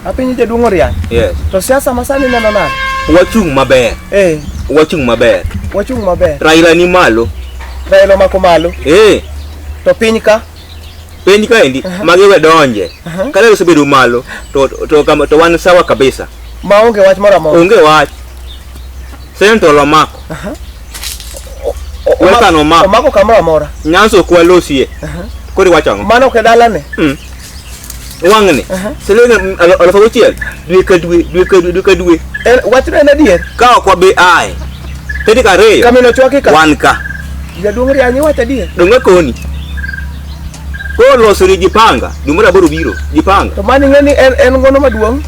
Apinyi jaduong' Oriany. Yes. To siasa masani neno nade? Wachung' maber. Eh. Wachung' maber. Wachung' maber. Raila ni malo. Raila mako malo. Eh. To piny ka? Piny ka endi, uh -huh. magi we donje. Uh -huh. Kale osebedo malo, to, to, to, to wan sawa kabisa. Ma onge wach moro amora. Onge wach. Sento lo mako. Uh -huh. Weka no mako. Omako kamoro amora. Nyanso kwa losie. Uh -huh. Kodi wachang'o? Mano ke dalane. Mm. wang'ni siling al- aluf auchiel dwe ka dwe dwe ka dwe dwe ka dwe En- wachno en adier ka ok wabi aye tarik ariyo kamino chwaki ka wan ka jaduong' rianyi wacho adier dong' akoni koro losori jipanga dwe mar aboro biro jipanga to mani ng'e ni en en ngono maduong'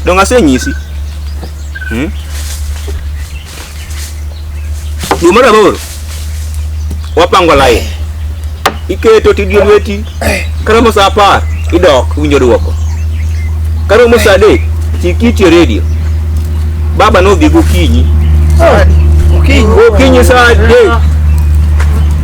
dong' asenyisi Hmm? Dwe mar aboro wapango lain, iketo tidie lweti, karomo sa apar idok winjo dwoko, karomo sa adek chik iti e redio, baba nodhi gokinyi, gokinyi sa adek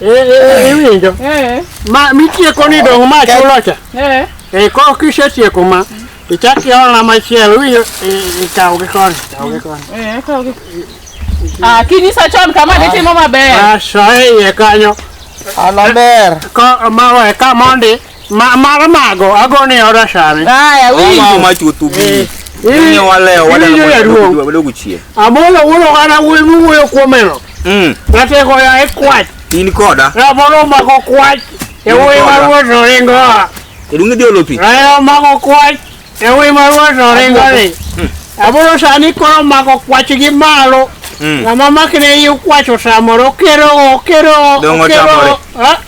Eh, eh, eh, iwinjo ma mitieko ni dong ma chulo cha e ko kisetieko ma ichak iolna machielo iwinjo ikaw gi koni kaw gi koni ah, kinyisa chon kama ditimo maber asoe iye kanyo alaber ko mawe ka mondi Ma mara mago agone ya orashare. Haya Wao winjo. ma chutu bi. Eh, Ni waleo wale Ili ya ruo. na wale kuchie. Amolo wulo kana wulo muyo kuomeno. Mm. Nate ko ya ekwat. In koda. Ya moro mako kwat. E wuyi mar wuoto ringo. Irungi dio lopi. Rayo mako kwat. E wuyi mar wuoto ringo ni. Amolo sani koro mako kwach gi malo. Mm. Ng'ama makne yi kwacho samoro kero kero Dongo tamore. Ah,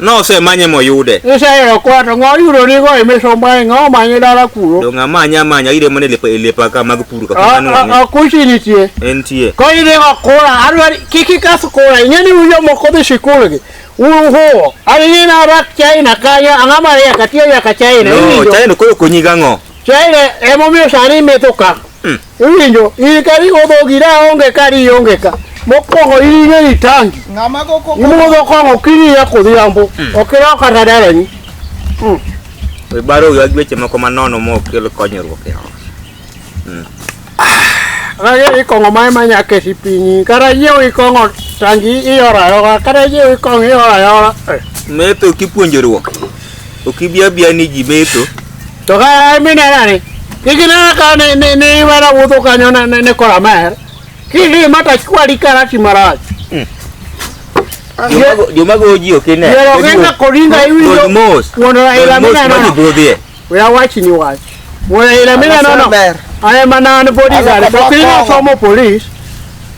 Nosemanye moyude. Iseyudo kwa to ng'o yudo ni go imisombae ng'o manye dala kuro. Donga manya manya ire mane lepa lepa ka mag puru ka kanu. A kuchi nitie. Entie. Ko ire go kura adwari kiki kas kura ingeni uyo moko dhi shikul gi. Uhu. Ari ni na rak China kanya angama ya katia ya ka China. No, China ko konyi gang'o. China emomiyo sani metho ka. Hmm. Iwinjo, in ka riwo dhogi da onge ka riyo onge ka. Mokwongo in ing'e ni tangi. Ng'ama go koko. Imudho kong'o kinyi ya kodhiambo. Hmm. Ok irawo kata dalani. Hmm. Ibaro wiwa gi weche moko manono mok kel konyruok e ot. Hmm. Rage ah, ikong'o ma ema nyaka esi pinyi. Kata yiewo ikong'o tangi iyoro ayora. Kata yiewo ikong'o iyoro ayora. Metho kipuonjoruok. Ok ibiya biya ni ji metho. To ka minena ni iginena ka ne ne ne iwera wuotho kanyo ne ne kora mer. Kili mata kwali karati marach. Hmm. Joma go ji ok ine. Yero kenga koringa iwinjo. Wono ila minena. We are watching you watch. Wono ila minena no. Aye manana bodyguard. Kapili somo police.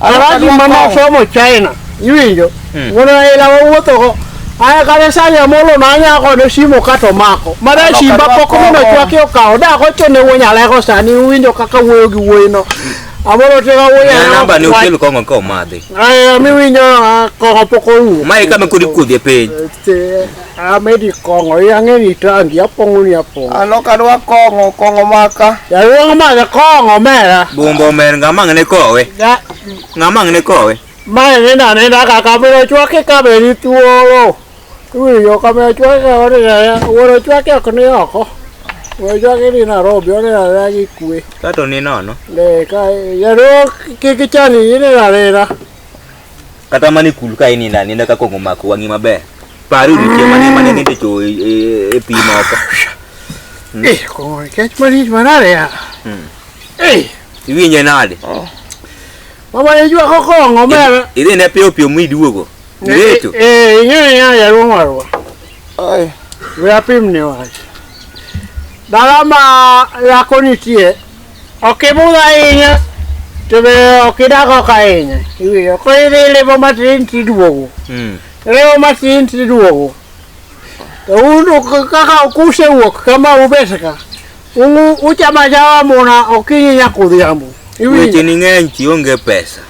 Alhaji mama somo China. Iwinjo. Hmm. Wuon Raila wawuothogo. Aya kane sani amolo nanya kode simo kato mako. Mara simba pok mino chwake okawo. Da kocho ne wuon Aleko sani uwinjo kaka wuoyo gi wuoyino. Amolo tega wuoyo. Na namba ni ukelu kongo ko madhi. Aya miwinjo kongo pok orumo. Mai kama kudi kudhi e piny. Te amedi kongo yange ni tangi apongo ni apongo. Ano kadwa kongo kongo maka. Ya wong ma ya kongo mera. Bumbo mer ngama ngene kowe. Ya ngama ngene kowe. Ma ni na ni na ka ka biro chwake ka be ni tuoro. Tuwi yo ka be chwake ka ore ya woro chwake ok ni oko. Woro chwake ni na robi ore ya ya ki kwe. Ka to ni nono. Le ka ya ro ki ki chani ni na rera. kata mana e kul ka inindo aninda ka kong'o omako wang'i maber pari odiochieng' mane mane nindo cho e, e, e pi moko hmm. eh, kong'o kech malich manade ya hmm. eh. iwinje nade oh. mama iywako kong'o mere idhi ne piyo piyo miduogo ireto eh, eh, ing'eyo ing'eyo jaduong' warwa we apimni wach dala ma yako nitie Ok ibudh ahinya to be ok idag oko ahinya iwinjo koro idhi ilimo matin tiduogo Mm. ilimo matin tiduogo to un ok- kaka kusewuok kama ubet ka u- uchamo achama muna okinyi nyaka odhiambo Weche iwinjo ni ng'eny ti onge pesa.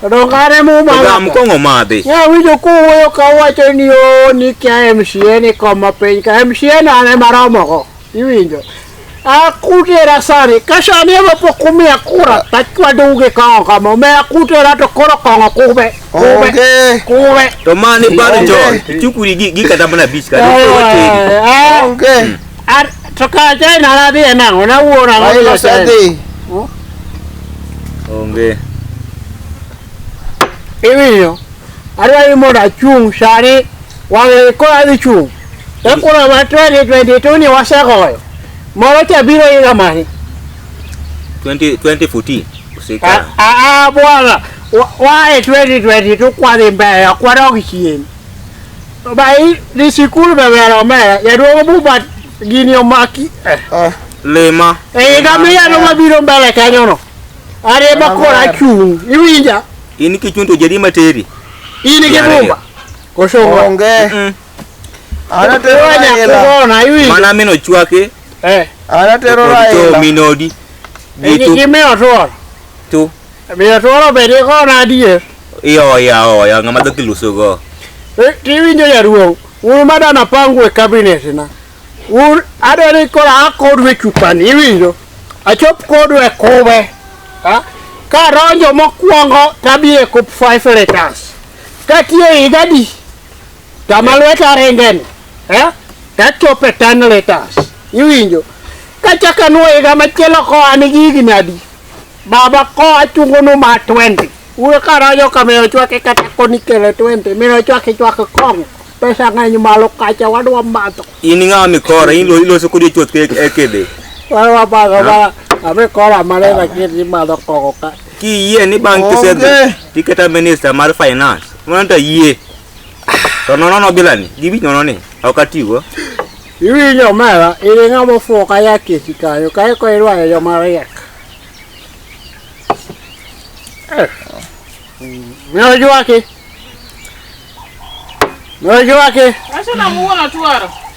to dong kare Ogam mumana kong'o madhi. nya winjo kuwuoyo ka uwacho ni o ni kia MCA ni koma piny ka MCA nane maromogo Iwinjo? Akutera sani, ka sani ema pok umiya kura, tachwadou gi kong'o kama, omiya akutera to koro kong'o kube, kube, Onge. kube. To mani bado Onge. John. Chukuri gi gi kata mana beach kata. Eh, eh, Onge. ar- To ka China nadhi e nang'o, nawuoro ang'o gi Raila China? osedhi. Onge. Iwinjo? Adwa ni mondo achung' sani, wang'e koro adhi chung'. To kura ma 2022 ni wasegoyo. Moro cha biro higa mane? 20 2014 Ah, usikana. ah, ah, bwana. Wa- Wae 2022 kwadhi mbele, kwadog chien. To ba i- ni sikul be ber omera, jaduong' Buba gini omaki. Eh. Ah, Lema. E higa miyalo mabiro mbele kanyono. Are ema koro achung'. Iwinja? In kichunto jadi materi. In gi Yare. Buba. Koso onge. Mm. Anatero Onya Raila. kugona iwinjo. Mana min ochwake Eh. Anatero to Raila. minodi. Gi tu- Gimiyo otuoro. tu. Miyo otuoro be dikona adier. Ioya oya ng'ama dhoki lusogo. Eh, Tiwinjo jaduong'. Un madana pangu e kabinet na. Un adwa ni koro a kodu e chupani iwinjo. Achop kodu e kube. Ha? Ka donjo mokwongo tabie kup five letters. Katie higa di. Kama lweta ringeni, eh? Kachope tan letas. Iwinjo? Kachak anuo higa machielo koa ni gigi nadi. Baba koa chungo nu ma 20. Uwe karajo kame ochwake kata koni kele 20. Mino ochwake chwake kong. Pesa ng'eny malo kacha wadwa madho. In ng'awa mikora, in lo- iloso kodi chuoth ke- e kede. Wadwa madho ma ame kora mane lakini madho kong'o ka. Kiyie ni bang' kisedhi, Onge. tiketa minister mar finance. Mwana tayie. To nono no bilani. Gibi nono ni. Ok atigo. Iwinjo mara, iri ng'ama ofuwo ka yak e chikanyo, kae ko irwayo yo mar yak. Eh. Ne ojwaki. Ne ojwaki. Wacho na muono twaro.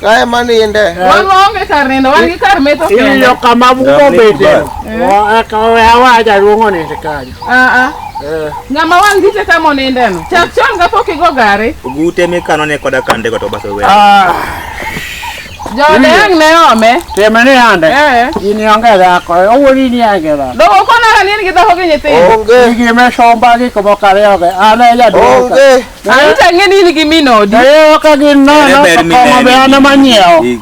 Ka ema ninde. Wan waonge kar nindo, wan gi kar metho kende. Iyudo kama umo bete. Wa- eka oya wa jaduong' onind kanyo. Ah, ah. Eh. Ng'ama wang' gite ka monindeno. Chak chon ka pok igo gari. Ogute mikano ne koda kande go to bas owe. Ah, Joode ang' ne ome. Tim ni ande. Eh. In ionge dhako. Owuoni ni ionge dhako. Dogo konara ni in gi dhako gi nyithindo. Onge. Gigi me somba gik moko ariyogi. An e jaduong'. Onge. Arita ng'e ni in gi min odi. Ee, ka gin nono, Ere ber to kong'o mineno be an ema in- nyiewo. in-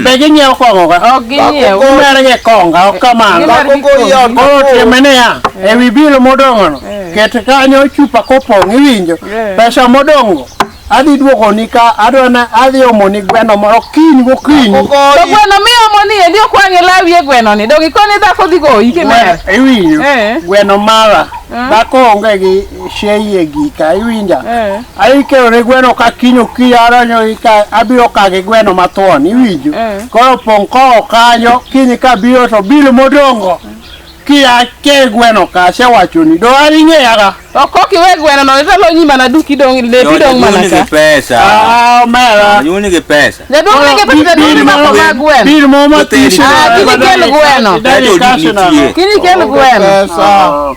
Be ginyiewo kong'o ka? Ok ginyiew. Umer gi konga, ok kamano. Gimar gi kong'o. Koro time niya, ewi bilo modong'ono, ket kanyo chupa kopong' iwinjo. Yeah. Pesa modong'go, adhi duogoni ka adwa na adhi omoni gweno moro kiny gokinyi. To gweno miomo ni endi ok wang'e lawi e gweno ni. Dong' ikone dhako dhi goyi kimer. Gweno- Iwinjo? Eh. Gweno mara, dhako onge gi sheye gika iwinja eh. aikero ne gweno ka kiny okiya aronyo ika abiro kage gweno mathuon iwinjo eh. koro pong' kowo kanyo kiny kabiro to bil modongo kia ke gweno ka se wacho ni do ari nge yaga to ko ki we gweno no to lo nyima na duki dong le bi dong mana ka ni pesa ah mera ni ni pesa ne do ni ke pesa do ni ma ma gweno bi mo ma ti shi ah ki ni ke gweno ki ni ke gweno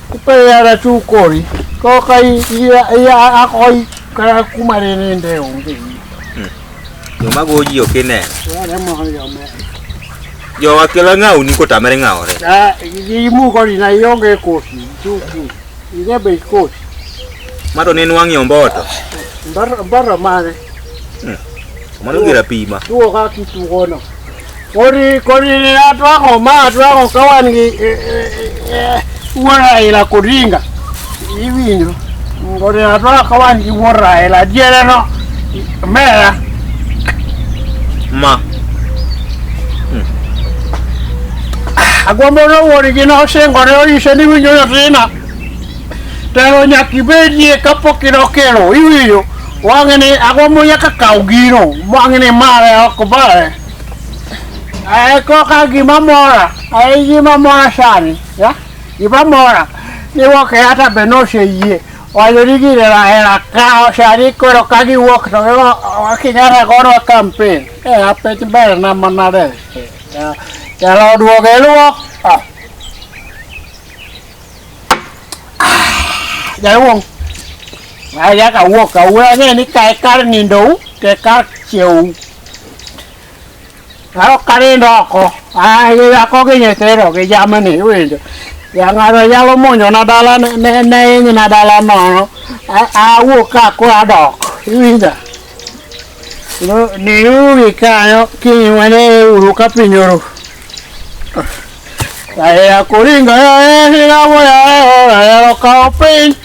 Kupeyara tu kori. Koka iya iya akoi kara kumare ne nde onge. Joma goji ok ineno. Wale mo yo me. Jowa kelo ng'aw ni kotamre ng'awore. Ah, gi mu kori na yonge kosi. Tu tu. Ine be kosi. Mato ne nwang'i omboto. Mbaro mbaro mane. Mano gira pima. Tuo ka kitu gono. Kodi kodi atwako ma atwako ka wan gi e, e, e, wuod Raila Odinga iwinjo kodi atwako ka wan gi wuod Raila diere no mera Ma. agombo no wuod gi no singore oyise ni winjo nyathina Telo nyaka ibedie kapok idokelo iwinjo wang'e ni agombo nyaka kaw gino wang'e ni mare ok bare ae koka gima mora ae gima mora sani ya gima mora ni woke hata be noseyie wacho ni gire rahera kawo sani koro ka giwuok to kinyata godwa kampen e apech ber na manade telo oduogo iluwo Jawong. Aya ka wuok ka wuok ne ni kai kar nindo ke kar cheu. Aro kare ndoko. Ah, ya ko ge nyetero ge jamani winjo. Ya ngaro yalo monyo na dala ne ne ne ni na dala no. A wuok ka ko adok. Winjo. No ni uwi kayo ki wane uru ka pinyoro. Aya kuringa ya hira moya ya lokao piny.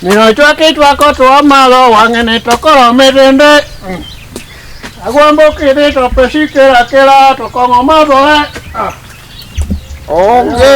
Mino chwaki chwako tuwa malo wang'e ni to koro mitinde. Agwambo kidi to pesi kira kira to kong'o madhore. Onge.